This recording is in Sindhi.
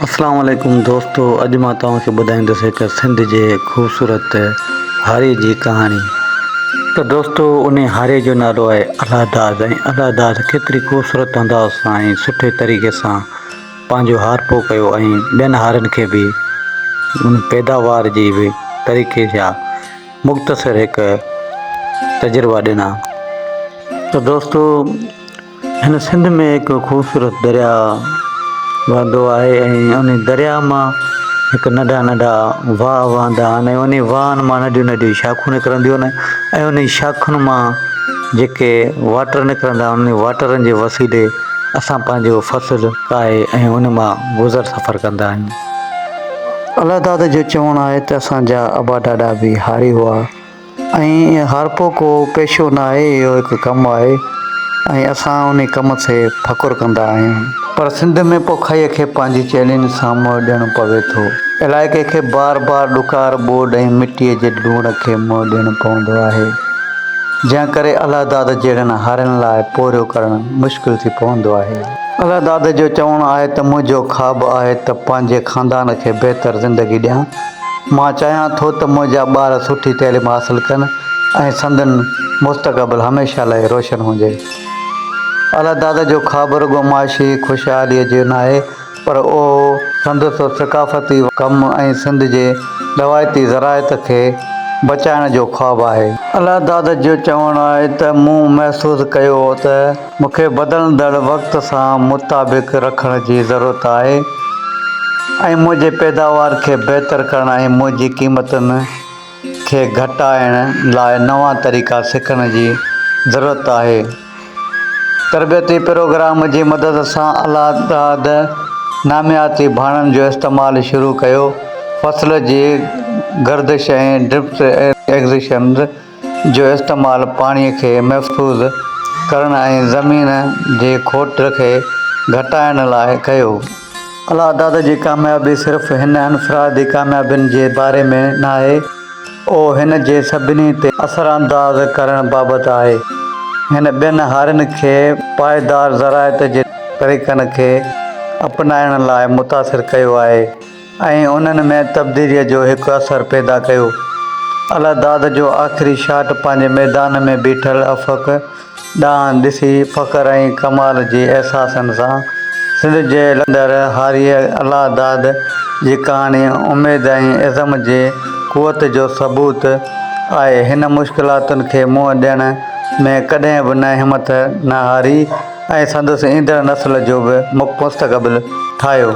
اسلام عليڪم دوستو اڄ مان توهان کي ٻڌائيندس هڪ سنڌ جي خوبصورت هاري جي ڪهاڻي ته دوستو انهي هاري جو نالو آهي الله داد ۽ الله داد ڪيتري خوبصورت انداز سان ۽ سٺي طريقي سان پنهنجو هارپو ڪيو ۽ ٻين هارن کي به ان پيداوار جي به طريقي جا مختصر هڪ تجربا ڏنا ته دوستو هن سنڌ ۾ هڪ خوبصورت درياء وهندو آهي ۽ ان درياء مان هڪ ننڍا ننڍا واهه وهندا آهن ۽ انهي واهن مان ننڍيون ننڍيون شاخون نڪرنديون آهن ۽ انهي شاخن مان جيڪي واٽر نڪرندا آهن انهي واٽرن جي وسيلي اسان پنهنجو فصل ڪاهي ۽ ان مان گذر سفر ڪندا آهيون. الله داد جو چوڻ آهي ته اسان جا ابا ڏاڏا به هاري هئا. ۽ هارپو ڪو پيشو نه آهي اهو هڪ ڪم آهي ۽ اسان انهي ڪم تي فخر ڪندا آهيون. پر سنڌ ۾ پوکائيء کي پنهنجي چئلينج سان منهن ڏيڻو پوي ٿو. علائقي کي بار بار ڏڪار، ٻوڏ ۽ مٽيء جي لوڻ کي منهن ڏيڻو پوندو آهي، جنهن ڪري الله داد جهڙن هارين لاء پورهيو ڪرڻ مشڪل ٿي پوندو آهي. الله داد جو چوڻ آهي ته منهنجو خواب آهي ته پنهنجي خاندان کي بهتر زندگي ڏيان، مان چاهيان ٿو ته منهنجا ٻار سٺي تعليم حاصل ڪن ۽ سندن مستقبل هميشه لاء روشن هجي. اعليٰ دادا جو خواب رڳو معاشي خوشحاليء جو ناهي پر اهو سندس ثقافتي ڪم ۽ سنڌ جي روايتي زراعت کي بچائڻ جو خواب آهي. اعليٰ دادا جو چوڻ آهي ته مون محسوس ڪيو هو ته. مون کي بدلندڙ وقت سان مطابق رکڻ جي ضرورت آهي ۽ منهنجي پيداوار کي بهتر ڪرڻ ۽ منهنجي قيمتن کي گهٽائڻ لاء نوان طريقا سکڻ جي ضرورت آهي. تربيتي پروگرام جي مدد سان الاعداد نامياتي ڀاڻن جو استعمال شروع ڪيو، فصل جي گردش ۽ ڊرپس ايريگيشنز، جو استعمال پاڻي کي محفوظ ڪرڻ ۽ زمين جي کوٽ کي گهٽائڻ لاء ڪيو. الا دادا جي ڪاميابي صرف هن انفرادي ڪاميابين جي باري ۾ ناهي، اهو هن جي سڀني تي اثرانداز ڪرڻ بابت آهي. هن ٻين هارين کي پائيدار زراعت جي طريقن کي اپنائڻ لاء متاثر ڪيو آهي. ۽ انهن ۾ تبديليء جو هڪ اثر پيدا ڪيو. الله داد جو آخري شاٽ پنهنجي ميدان ۾ بيٺل افق ڏانهن ڏسي فخر ۽ ڪمال جي احساسن سان سنڌ جي لڏندڙ هاريء الله داد جي ڪهاڻي اميد ۽ عزم جي قوت جو ثبوت آهي هن مشڪلاتن کي منهن ڏيڻ ۾ ڪڏهن به نه همٿ نه هاري ۽ سندس ايندڙ نسل جو به مستقبل ٺاهيو.